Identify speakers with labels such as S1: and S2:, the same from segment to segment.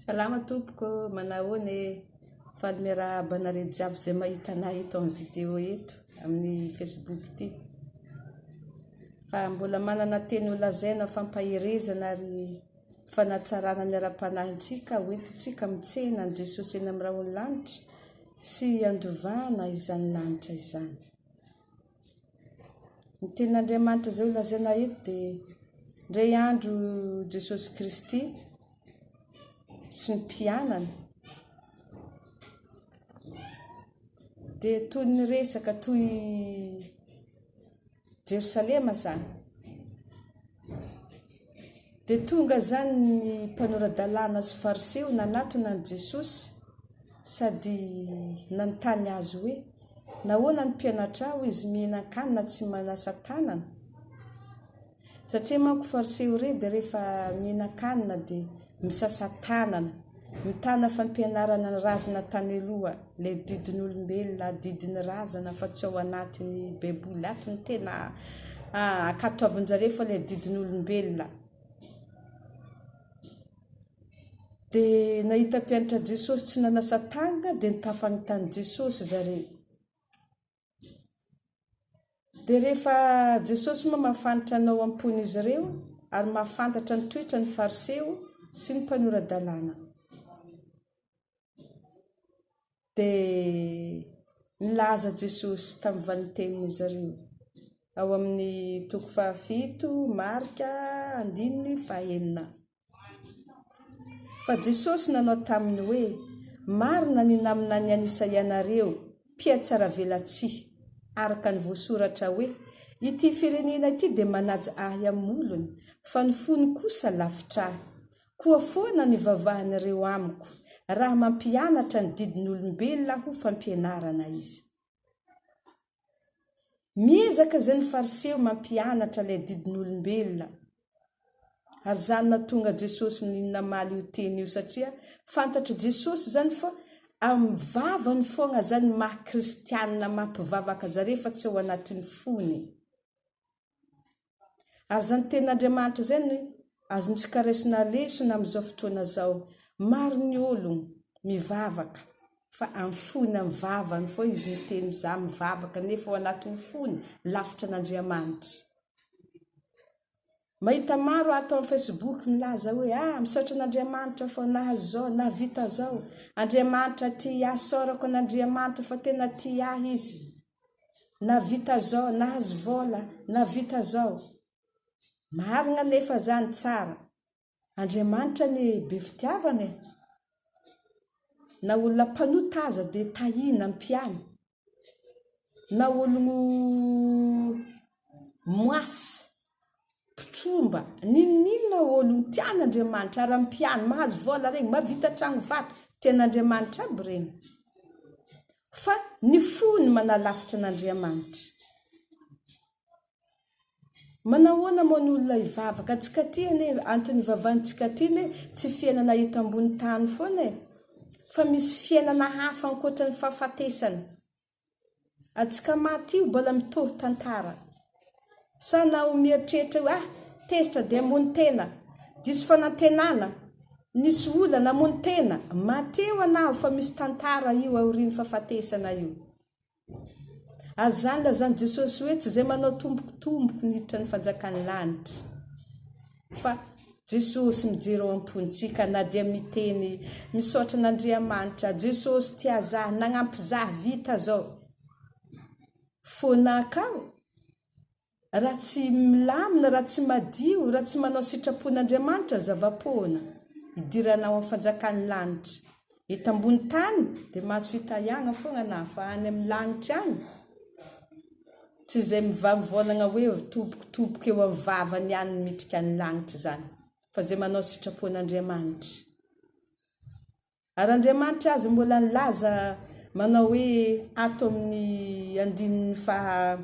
S1: Salama tompoko ô, manao ahoana e? Faly miarahaba anareo jiaby izay mahita anahy eto amin'ny vidéo eto, amin'ny facebook ity. Fa mbola manana teny ho lazaina fampaherezana ary fanatsarana ny ara-panahintsika ho entintsika amin'ny tsena an'i Jesosy eny amin'ny rahon'ny lanitra sy handovana izany lanitra izany. Ny tenin'Andriamanitra izay holazaina eto dia indray andro Jesosy Kristy sy ny mpianany dia toy ny resaka toy Jerosalema izany. Dia tonga izany ny mpanora-dalàna sy Fariseo nanatona an'i Jesosy sady nanontany Azy hoe, Nahoana ny mpianatrao, izy mihinan-kanina tsy manasa tanana? Satria manko Fariseo irey dia rehefa mihinan-kanina dia misasa tanana, mitana fampianarana ny razana tany aloha, ilay didin'olombelona, adidin'ny razana fa tsy ao anatin'ny baiboly ato no tena ankatoavinjareo fa ilay didin'olombelona. Dia nahita mpianatra Jesosy tsy nanasa tanana dia nitafany tany Jesosy zareo. Dia rehefa Jesosy moa mafanitra anao am-pon'izy ireo ary mahafantatra ny toetra ny Fariseo sy ny mpanora-dalàna. Dia nilaza Jesosy tamin'ny valintenin'izy ireo ao amin'ny toko fahafito, Marka, andininy fahenina. Fa Jesosy nanao taminy hoe, Marina ny naminany an'i Isaia nareo, mpihatsaravelatsihy, araka ny voasoratra hoe, Ity firenena ity dia manaja Ahy amin'ny molony, fa ny fony kosa lavitra Ahy. Koa foana ny vavahan'ireo amiko, raha mampianatra ny didin'olombelona ho fampianarana izy. Miezaka izay ny Fariseo mampianatra ilay adidin'olombelona. Ary izany nahatonga Jesosy namaly io teny io satria fantatr'i Jesosy izany fa amin'ny vavany foagna zany maha kristianina maha mpivavaka zare fa tsy ao anatin'ny fony. Ary izany tenin'Andriamanitra izany no azontsika raisina lesona amin'izao fotoana izao. Maro ny olona mivavaka fa amin'ny fony, amin'ny vavany foana izy miteny mizaha, mivavaka nefa ao anatin'ny fony lavitra an'Andriamanitra. Mahita maro ato amin'ny Facebook milaza hoe ah misaotra an'Andriamanitra fao nahazo izao, nahavita izao. Andriamanitra tia ahy, isaorako an'Andriamanitra fa tena tia ahy izy. navita zao nahazo vola navita zao marigna nefa zany tsara Andriamanitra anie be fitiavana e na olona mpanota aza de tahina ampiany na ologno moasy Mpitsoa mba ninoninona olon tian Andriamanitra ary am pian mahazo vola regny mavita tragno vato tian Andriamanitra aby regny fa ny fo ny manalafitra an Andriamanitra manahoana moa ny olona hivavaka tsy ka ty anie anton ivavan tsika ty ne tsy fiainana eto ambony tany foana e fa misy fiainana hafa ankoatra ny fahafatesana Antsika maty io mbola mitohy tantara. Sa naho mieritreritra hoe ah tezitra dia hamono tena, diso fanantenana, nisy olana, hamono tena, maty eo anao fa misy tantara io aorian'ny fahafatesana io. Ary izany lazan'i Jesosy hoe tsy izay manao tombokitomboko ny hiditra ny fanjakan'ny lanitra. fa Jesosy mijery ao ampontsika na dia miteny misaotra an'Andriamanitra Jesosy tia za nagnampy za vita zao fona akao ra tsy milamina ra tsy madio ra tsy manao sitrapon'Andriamanitra zavapoana idiranao am fanjakan'ny lanitra Eto ambony tany dia mahazo fitahiana foana na fa any amin'ny lanitra any. Tsy izay mivamivaonagna hoe tobokotoboko eo amin'ny vavany ihany no mitrika ny lanitra izany, fa izay manao sitrapon'Andriamanitra. Ary Andriamanitra aza mbola nilaza manao hoe ato amin'ny andininy faha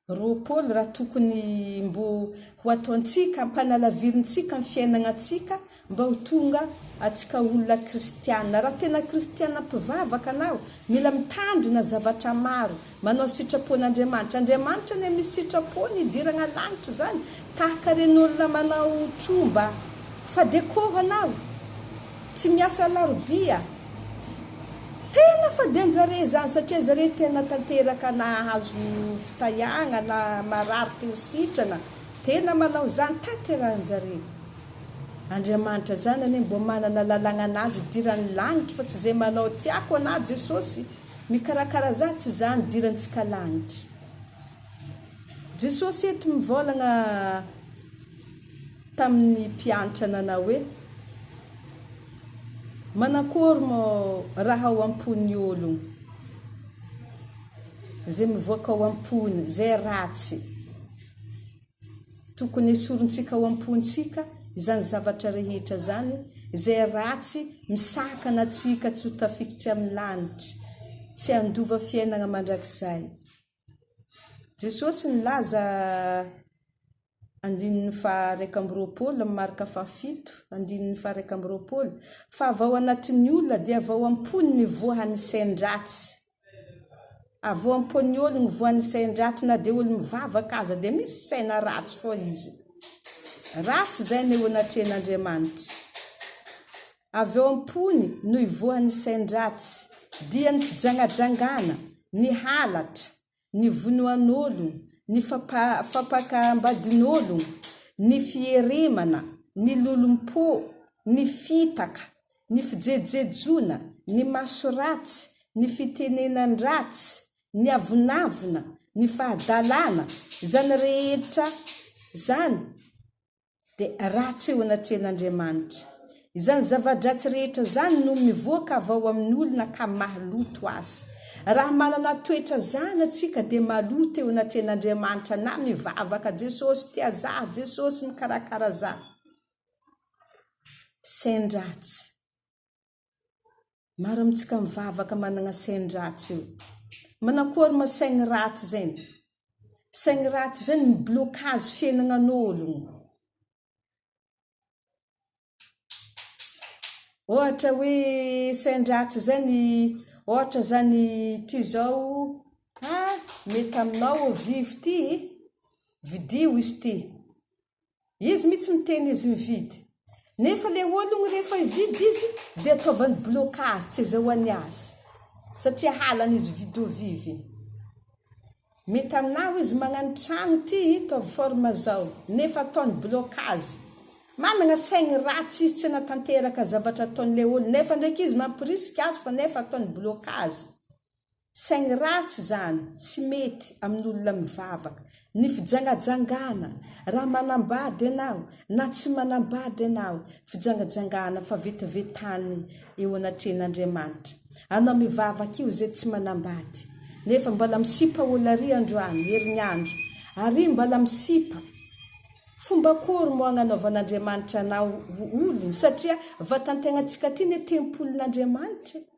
S1: Roa Paoly raha tokony mbo ho ataontsika ampanalavirintsika ny fiainagnantsika mba ho tonga atsika olona kristiana. Raha tena kristiana mpivavaka anao, mila mitandrina zavatra maro, manao sitrapon'Andriamanitra. Andriamanitra anie misy sitrapony hidiragna lagnitra zany tahaka reny olona manao tromba fa dia kôho anao. Tsy miasa alarobia a! Tena fa dia anjareo izany satria zareo tena tanteraka nahazo fitahiagnana, marary teo sitrana, tena manao izany tanterahanjareo. Andriamanitra izany anie mbo manana lalagnanazy idirany lagnitry fa tsy izay manao tiako ana Jesosy mikarakara za tsy izany idirantsika lagnitry. Jesosy eto mivaolagna. tamin'ny mpiantra nanao hoe, Manakôry mô raha ao am-pon'ny ôlogno, zay mivoaka ao am-pony, zay ratsy. Tokony esorintsika ao am-pontsika izany zavatra rehetra izany, izay ratsy misakana antsika tsy ho tafikitry amin'ny lanitra, tsy handova fiainagna mandrakizay. Jesosy nilaza andininy faha iraika amby roapolo amin'ny marika faha fito andininy faha iraika amby roapolo fa avy ao anatin'ny olona dia avy ao am-pony ny voan'ny sain-dratsy. Avy ao am-pon'ny olo ny voan'ny sain-dratsy na dia olo mivavaka aza dia misy saina ratsy foa izy. Ratsy izay no eo anatrehan'Andriamanitra. Avy ao am-pony no ivoahan'ny sain-dratsy, dia ny fijangajangana, ny halatra, ny vonoan'olona, ny fampakam-badin'olona, ny fieremana, ny lolom-po, ny fitaka, ny fijejojejoana, ny maso ratsy, ny fitenenan-dratsy, ny avonavona, ny fahadalana, izany rehetra izany. dia ratsy eo anatrehan'Andriamanitra. Izany zava-dratsy rehetra izany no mivoaka avy ao amin'ny olona ka maloto azy. Raha manana toetra izany antsika dia maloto eo anatrehan'Andriamanitra na mivavaka Jesosy tia za, Jesosy mikarakara za. Sain-dratsy. Maro amintsika mivavaka managna sain-dratsy io. Manakory ma saigny ratsy zegny? Saigny ratsy zegny mi-blocage fiainagnan'ologno. Ohatra hoe sain-dratsy zegny, ohatra zany ty zao, ah mety aminao ô vivo ty, vidio izy ty, Izy mitsy miteny izy mividy. Nefa le ologno rehefa hividy izy dia ataovany blocage tsy azahoany azy satria halany izy hividy ho viviny. Mety aminao izy magnano tragno ty hitaovy forme zao nefa ataony blocage. Managna saigny ratsy izy tsy hanatanteraka zavatra ataony le ologno nefa ndraiky izy mampirisika azy fa nefa ataony blocage. Saingy ratsy izany, tsy mety, amin'ny olona mivavaka. Ny fijangajangana, raha manambady ianao na tsy manambady ianao, fijangajangana, fa vetavetany eo anatrehan'Andriamanitra. Anao mivavaka io izay tsy manambady, nefa mbala misipa ol ary androany, herinandro, ary mbala misipa. Fomba akory moa agnanaovan'Andriamanitra anao ho olony, satria vatan-tegnantsika ty ne tempolin'Andriamanitra e.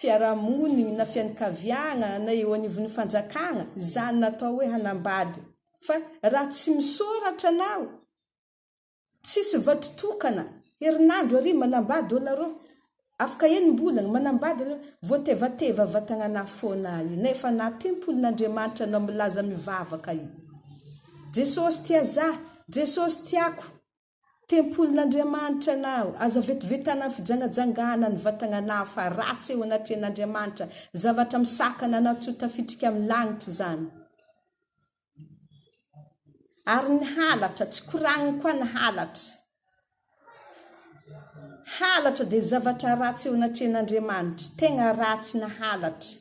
S1: fiarahamoniny na fianakaviagna na eo anivon'ny fanjakagna zany natao hoe hanambady fa raha tsy misoratra anao tsisy vato tokana herinandro ary manambady ôla rô afaka enimbolagna manambady ôla vao tevateva vatagnanà fôna i nefa anà tempolin'Andriamanitra anao milaza mivavaka i Jesosy tia zah Jesosy tiako Tempolin'Andriamanitra anao. Aza vetivetana ny fijangajangana ny vatagnanao fa ratsy eo anatrehan'Andriamanitra. Zavatra misakana anao tsy ho tafitrika amin'ny lagnitra izany. Ary ny halatra, tsy koragniny koa ny halatra. Halatra dia zavatra ratsy eo anatrehan'Andriamanitra. Tegna ratsy ny halatra.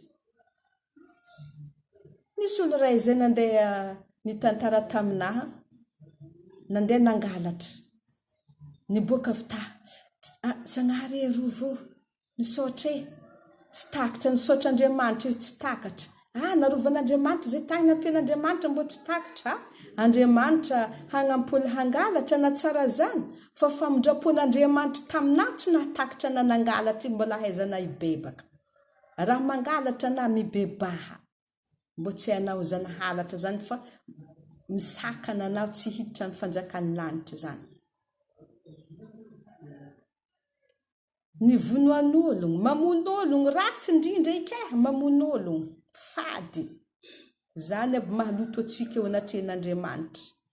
S1: Nisy olo iray izay nandeha nitantara taminà, nandeha nangalatra. Niboaka avy ta, ah, Zagnahary e, arovy o, misaotra e. Tsy takatra, nisaotra Andriamanitra izy, tsy takatra. Ah, narovan'Andriamanitra izay tany, nampian'Andriamanitra mbô tsy takatra. Andriamanitra hagnamp' olo hangalatra, na tsara izany, fa famindram-pon'Andriamanitra taminà tsy nahatakatra na nangalatra izy, mbola ahaizanà hibebaka. Raha mangalatra na mibebaha mbo tsy hanao izany halatra izany fa misakana anao tsy hiditra ny fanjakan'ny lanitra izany. Ny vonoan'ologno, mamono ologno, ratsy indrindra ika eh, mamono ologno, fady, izany aby mahaloto antsika eo anatrehan'Andriamanitra,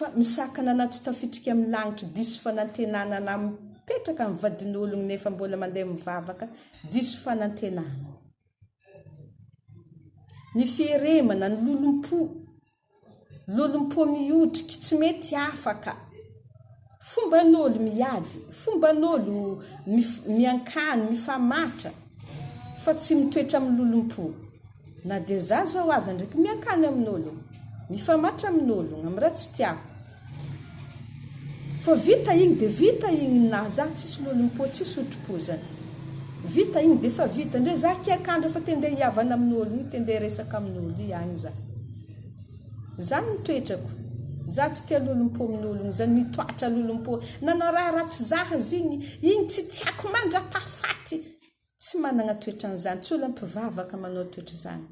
S1: fa misakana anaty tafitrika amin'ny lagnitry diso fanantenana na mipetraka amin'ny vadin'ologny nefa mbola mandeha mivavaka diso fanantenana. Ny fieremana, ny lolompo, lolompo mihotriky, tsy mety afaka. Fomban'olo miady, fomban'olo miankany, mifamatra fa tsy mitoetra amin'ny lolompo. Na dia za zao aza ndraiky miankany amin'olo, mifamatra amin'olo, amin'ny raha tsy tiako. Fa vita igny dia vita igny ninahy za, tsisy lolompo, tsisy otripozana. Vita igny dia efa vita, ndre za kiakandra fa te ndeha hihavana amin'olo igny, te ndeha hiresaka amin'olo igny agny za. Za ny toetrako. Za tsy tia lolompomin'olona zany mitoatra lolompo nanao raha ratsy za azy igny igny tsy tiako mandrapahafaty tsy managna toetran'izany tsy olona mpivavaka manao toetra zany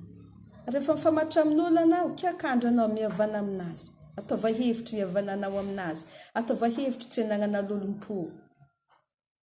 S1: refa mifamatra amin'olo anao k'ia ka andra anao mihavana aminazy ataova hevitry hihavananao aminazy ataova hevitry tsy anagnana lolompo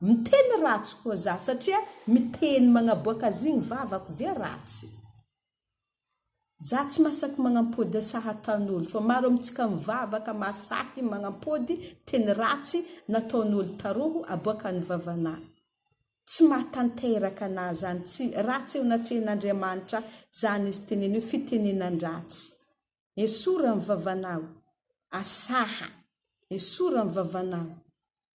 S1: Miteny ratsy koa za satria miteny magnaboaka azy igny vavako dia ratsy. Za tsy masaky magnampody sahataon'olo fa maro amintsika mivavaka masahy magnampody teny ratsy nataon'olo taroho aboakan'ny vavanà. Tsy mahatanteraka anà zany tsy ratsy eo anatrehan'Andriamanitra zany izy teneno hoe fitenenan-dratsy. Esory am vavanao. Asaha. Esory am vavanao.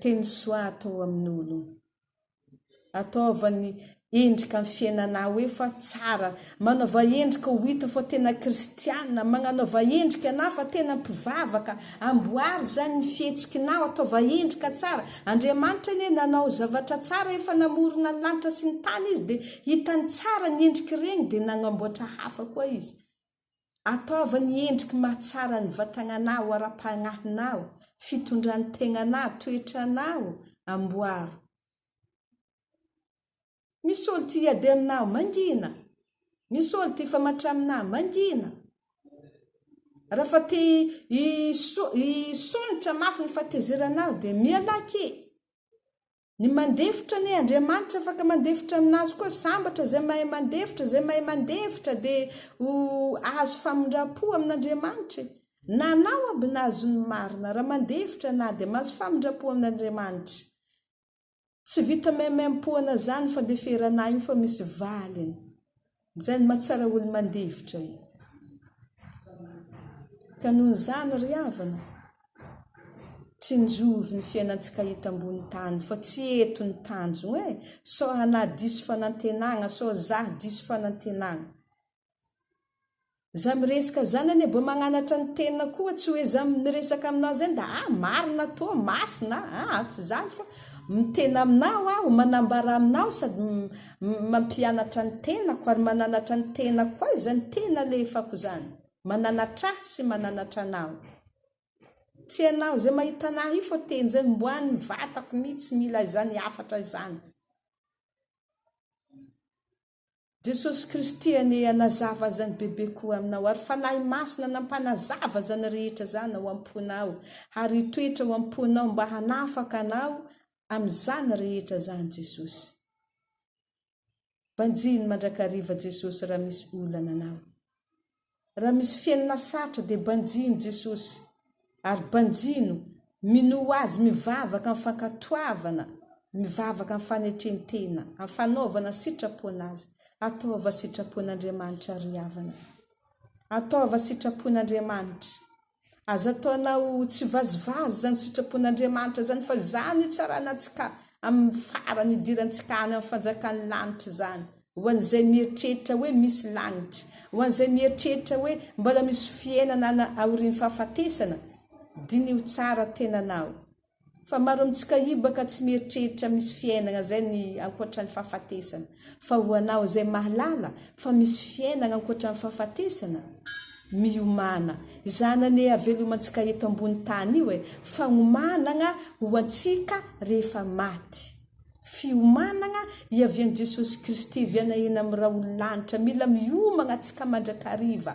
S1: Teny soa atao amin'ny olona. Ataovany endrika amin'ny fiainanao hoe fa tsara. Manaova endrika ho hita fa tena kristiana. Magnanaova endrika anao fa tena mpivavaka. Amboary izany ny fihetsikinao. Ataova endrika tsara. Andriamanitra anie nanao zavatra tsara. Efa namorona ny lanitra sy ny tany Izy dia hitany tsara ny endrik'ireny dia nagnamboatra hafa koa Izy. Ataovy ny endriky mahatsara ny vatagnanao, ara-pagnahinao, fitondran-tegnanao, toetranao, amboaro. Misy olo ty hiady aminao, mangina. Misy olo ty hifamatra aminao, mangina. Raha fa te hisonitra mafy ny fahatezeranao dia mialaky. Ny mandefitra anie Andriamanitra afaka mandefitra aminazy koa sambatra zay mahay mandefitra zay mahay mandefitra de ho ahazo famindrampo amin'Andriamanitra e na anao aby na azon'ny marina raha mandefitra na de mahazo famindrampo amin'Andriamanitra tsy vita maimaimpoana zany fandeferana io fa misy valiny Zay no mahatsara olo mandefitra e! Ka noho izany ry havana, tsinjovy ny fiainantsika eto ambony tany fa tsy eto ny tanjogna e! Sao anah diso fanantenagna, sao zah diso fanantenagna. Za miresaka zany anie bo magnanatra ny tena koa tsy oe za miresaka aminao zay nda ah marina toa masina ah tsy zany fa mitena aminao aho manambara aminao sady mampianatra ny tenako ary mananatra ny tenako koa izany tena alehefako zany mananatr'ahy sy mananatra anao tsy ianao zay mahita an'ahy io fa teny zay omboan'ny vatako mitsy mila izany hafatra izany. Jesosy Kristy anie hanazava azany bebe koa aminao ary Fanahy Masina nampanazava azany rehetra zany ao amponao ary hitoetra ao amponao mba hanafaka anao amizany rehetra zany Jesosy. Banjino mandrakariva Jesosy raha misy olana anao. Raha misy feno na sarotra dia banjino Jesosy ary banjino, minoa Azy, mivavaka amin'ny fankatoavana, mivavaka amin'ny fanetren-tena, amin'ny fanaovana sitrapo an'Azy, ataova sitrapon'Andriamanitra ry havana. Ataova sitrapon'Andriamanitra. Aza ataonao tsy vazivazy izany sitrapon'Andriamanitra izany fa izany hitsarana antsika amin'ny farany hidirantsika any amin'ny fanjakan'ny lanitra izany. Ho an'izay mieritreritra hoe misy lanitra, ho an'izay mieritreritra hoe mbola misy fiainana any aorian'ny fahafatesana, diniho tsara tenanao. Fa maro amintsika hibaka tsy mieritreritra misy fiainana zay ny ankoatran'ny fahafatesana. Fa ho anao izay mahalala fa misy fiainana ankoatran'ny fahafatesana, miomana. Izany anie havelomantsika eto ambony tany io e, fagnomanana ho antsika rehefa maty. Fiomanana hiavian'i Jesosy Kristy vianahina amin'ny rahon'ny lanitra. Mila miomana tsika mandrakariva.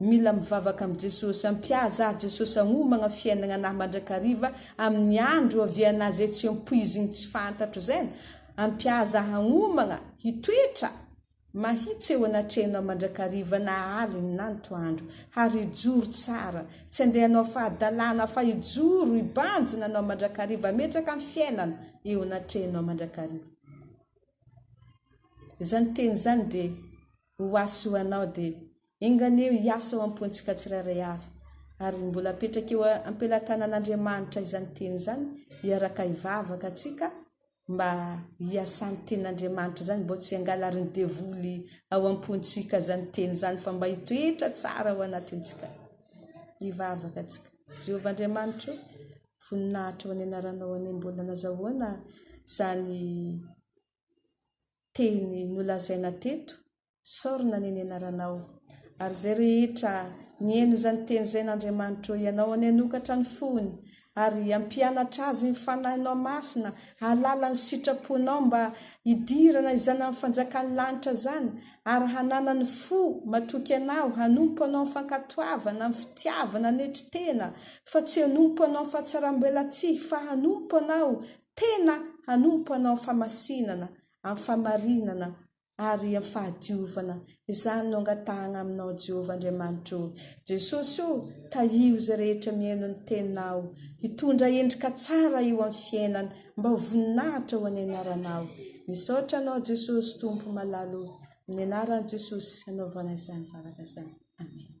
S1: Mila mivavaka am Jesosy. Ampiaza ahy Jesosy agnomagna fiainagna anahy mandrakariva amin'ny andro oavianah zay tsy ampoizigny tsy fantatro zain ampiaza ahy agnomagna hitoetra mahitsy eo anatrehanao mandrakariva na aligny na antoandro hary hijoro tsara tsy andeha anao fahadalana fa hijoro hibanjina anao mandrakariva ametraka ny fiainana eo anatrehanao mandrakariva. Zany teny zany dia. Ho ahy sy ho anao dia. Enga anie hiasa ao am-pontsika tsirairay avy, ary mbola apetraka eo am-pelatanan'Andriamanitra izany teny izany, hiaraka hivavaka antsika mba hiasan'ny tenin'Andriamanitra izany, mba tsy hangalarin'ny devoly ao am-pontsika izany teny izany, fa mba hitoetra tsara ao anatintsika. Hivavaka antsika. Jehovah Andriamanitro ô, voninahitra ho an'ny anaranao anie, mbola nazahoana izany. teny nolazaina teto, saorina anie ny anaranao, ary izay rehetra nihaino izany teny izany Andriamanitra ô Ianao anie hanokatra ny fony ary hampianatra azy ny Fanahinao Masina hahalala ny sitraponao mba hidirana izany amin'ny fanjakan'ny lanitra izany ary hananany fo matoky Anao hanompo Anao amin'ny fankatoavana amin'ny fitiavana hanetry tena fa tsy hanompo Anao fahatsaram-belatsihy fa hanompo Anao tena hanompo Anao amin'ny famasinana, amin'ny famarinana ary amin'ny fahadiovana. Izany no angatahagna Aminao Jéhovah Andriamanitro ô! Jesosy ô! Tahio izay rehetra mihaino ny Teninao, hitondra endrika tsara eo amin'ny fiainany, mba ho voninahitra ho an'ny Anaranao. Misaotra Anao Jesosy Tompo malala ô! Amin'ny Anaran'i Jesosy hanaovagna izany vavaka izany. Amen.